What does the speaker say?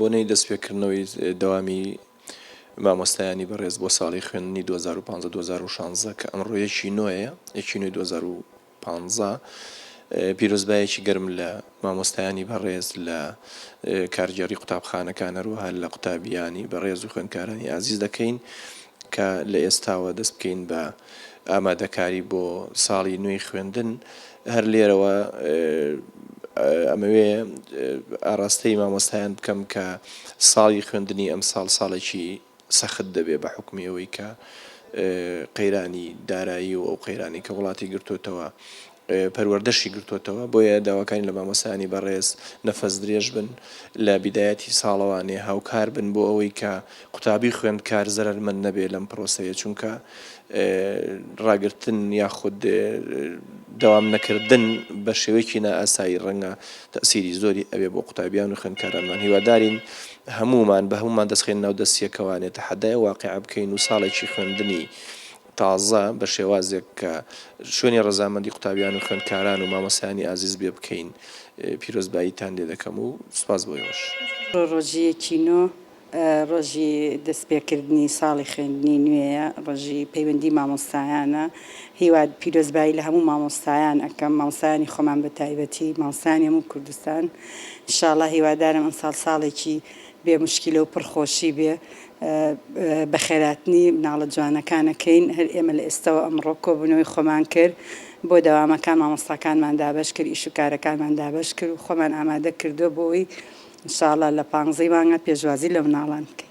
بۆنەی دەستپێکردنەوەی دەوامی مامۆستایانی بەڕێز بۆ ساڵی خوێندنی دوو هەزار و پازدە دوو هەزار و شازدە کە ئەمڕۆ یەکی نۆیە یەکی نۆی دوو هەزار و پازدە پیرۆزبایەکی گەرم لە مامۆستایانی بەڕێز لە کارگێڕی قوتابخانەکان هەروەها لە قوتابیانی بەڕێز و خوێندکارانی ئازیز دەکەین کە لە ئێستاوە دەست بکەین بە ئامادەکاری بۆ ساڵی نوێی خوێندن هەر لێرەوە ئەمەوێ ئاڕاستەی مامۆستایان بکەم کە ساڵی خوێندنی ئەمساڵ ساڵێکی سەخت دەبێ بە حوکمی ئەوەی کە قەیرانی دارایی و ئەو قەیرانی کە وڵاتی گرتوتەوە پەروەردەشی گرتوتەوە بۆیە داواکانی لە مامۆستایانی بەڕێز نەفەس درێژ بن لە بیدایەتی ساڵەوانێ هاوکار بن بۆ ئەوەی کە قوتابی خوێندکار زەرەرمەند نەبێ لەم پرۆسەیە چونکە ڕاگرتن یاخود دەوام نەکردن بە شێوەیەکی نائاسایی ڕەنگە تەسیری زۆری ئەوێ بۆ قوتابیان و خوێندکارانمان هیوادارین هەموومان بە هەموومان دەستخەین ناو دەستیەکەوانێ تەحەدای ئەو واقیعە بکەین و ساڵێکی خوێندنی تازە بە شێوازێک کە شوێنی ڕەزامەندی قوتابیان و خوێندکاران و مامۆستایانی ئازیز بێ بکەین پیرۆزباییتان لێ دەکەم و سوپاس بۆ ئێوەش. ڕۆژیەکی نۆ. ڕۆژی دەستپێکردنی ساڵی خوێندنی نوێیە، ڕۆژی پەیوەندی مامۆستایانە، هیوا پیرۆزبایی لە هەموو مامۆستایان ئەکەم، مامۆستایانی خۆمان بە تایبەتی، مامۆستایانی هەموو کوردستان، ان شاء اللە هیوادارم ئەمساڵ ساڵێکی بێ موشکیلە و پڕ خۆشی بێ، بەخێراتنی مناڵە جوانەکان ئەکەین، هەر ئێمە لە ئێستەوە ئەمڕۆ کۆبوونەوەی خۆمان کرد، بۆ دەوامەکان مامۆستاکانمان دابەش کرد ئیش و کارەکانمان دابەش کرد و خۆمان ئامادە کردوە بۆ ئەوەی ان شاء اللە لە پانزەی مانگە پێشوازی لە مناڵان بکەین.